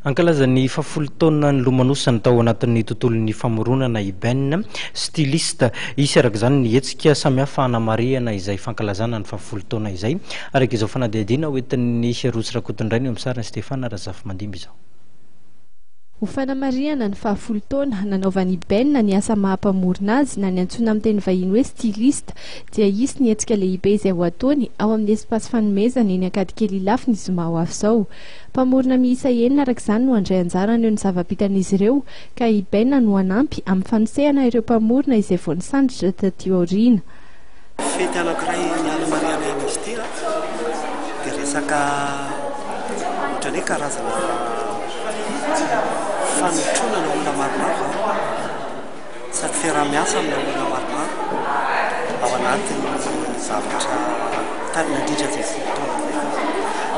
Hankalaza ny fahafolo taona nilomanosany tao anatin'ny tontolon'ny famoronana i Ben, styliste. Hisy araka izany ny hetsika samihafa hanamarihana izay fankalazana ny fahafolo taona izay, araka izao fanadihadiana hoentin'i Rossy Rakotondraina eo amin'ny sariny, Stéphane Razafimandimby izao. Ho fanamarihana ny fahafolo taona nanaovan'i Ben na ny asa maha mpamorona azy na ny antsoina amin'ny teny vahiny hoe styliste dia hisy ny hetsika lehibe izay ho ataony ao amin'ny espace fanomezana eny Ankadikely Ilafy ny zoma ho avy izao. Mpamorona miisa enina araka izany no handray anjara haneo ny zava-bitan'izy ireo ka i Ben no hanampy amin'ny fanosehana ireo mpamorona izay vao nisandritra taty aoriana. Fety anankiray hanamariana iny izy ity dia resaka ohatran'ny hoe karazana fanotronana olona maromaro izany. Sady fiaraha-miasa amina olona maromaro ao anatin'ny zavatra nandritra izay folo taona izay fotsiny.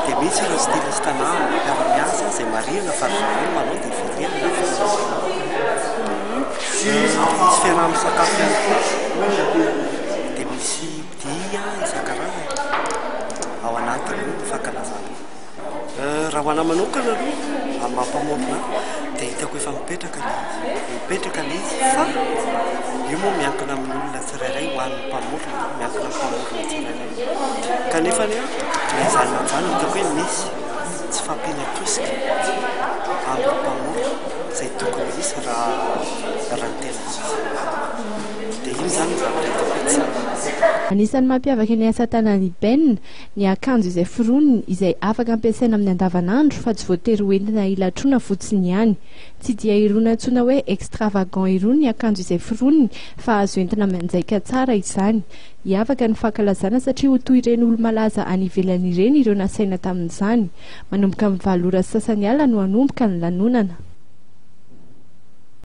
Dia misy ireo styliste anah amin'ny fiaraha-miasa izay marihina fa ry zareo manao dia velively na velively. Misy fiaraha-misakafo ihany koa, dia misy dia isan-karazany ao anatin'io fankalazana io. Raha ho anahy manokana aloha, amin'ny maha mpamorona ahy, dia hitako efa mipetraka ilay izy. Mipetraka ilay izy fa io moa miankina amin'olona tsirairay ho an'ny mpamorona, miankina amin'ny mpamorona tsirairay. Kanefa anie an, na izany na izany hitako hoe misy tsy fahampiana tosika amin'ny mpamorona izay tokony hisy raha raha ny tena izy. Dia iny izany no zavatra hitako hoe tsara. Anisan'ny mampiavaka ny asa tanan'i Ben, ny akanjo izay foroniny izay afaka ampiasaina amin'ny andavanandro fa tsy voatery ho entina hilatroana fotsiny ihany. Tsy dia irony antsoina hoe extravagant irony ny akanjo izay foroniny fa azo entina mianjaika tsara izany. Hiavaka ny fankalazana satria ho toy ireny olo-malaza any ivelany ireny ireo nasaina tamin'izany. Manomboka amin'ny valo ora sy sasany alina no hanomboka ny lanonana.